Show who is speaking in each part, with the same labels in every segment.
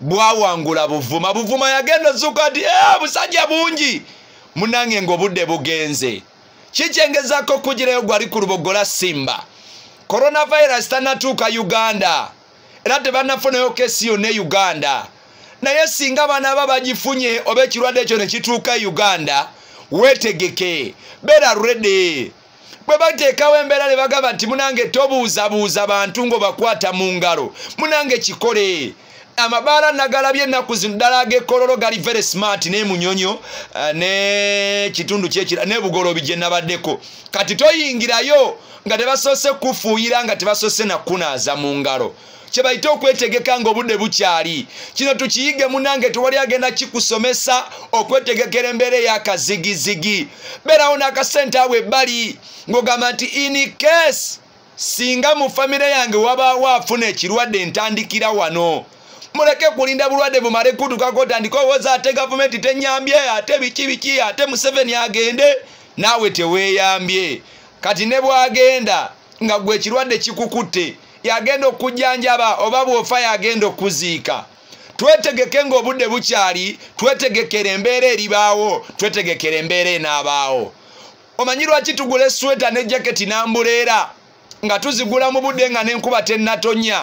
Speaker 1: bwawangula buvuma buvuma yagenda ozuuka nti eh, busajja bungi munange ngaobudde bugenze kikyengezako okugirayo gwali ku lubogola simba coronavirus tanatuuka uganda era tebanafunayo kesi yonna e uganda naye singa abaana aba bagifunye oba ekirwadde ekyo ne kituuka e uganda weetegeke beera redi bwe bateekawo embeera ne bagamba nti munange tobuuzabuuza bantu ng'obakwata mu ngalo munange kikole amabaala nagalabye ennaku zino ddala agekololo gali very smart ne munyonyo eh, ne kitundu kyekira ne bugolobi gye nabaddeko kati toyingirayo nga tebasoose kufuuyira nga tebasoose nakunaaza mu ngalo kyebayita okwetegeka nga obudde bukyali kino tukiyige munange tewali agenda kikusomesa okwetegekera embeera eyakazigizigi beerawo n'akasente awo ebbali ng'ogamba nti in case singa mu famire yange wabaawo afuna ekirwadde ntandikira wano muleke kulinda bulwadde bumale kutukako otandika owoza ate gavumenti tenyambye ate biki biki ate museveni agende naawe teweeyambye kati ne bwagenda nga gwe ekirwadde kikukutte yagenda okujjanjaba oba bwofa yagenda okuziika twetegeke ng'obudde bukyali twetegekera embeera eribaawo twetegekera embeera enaabaawo omanyi lwaki tugula esweta ne jaketi n'ambuleera nga tuzigula mu budde nga n'enkuba tennatonya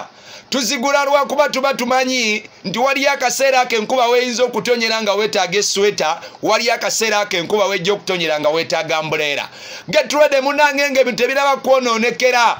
Speaker 1: tuzigula lwakuba tuba tumanyi nti waliyo akaseera ako enkuba weyinza okutonyera nga wetaaga esweta waliyo akaseera ako enkuba wejja okutonyera nga wetaaga mbuleera getulede munange nga ebintu ebiraba kwonoonekera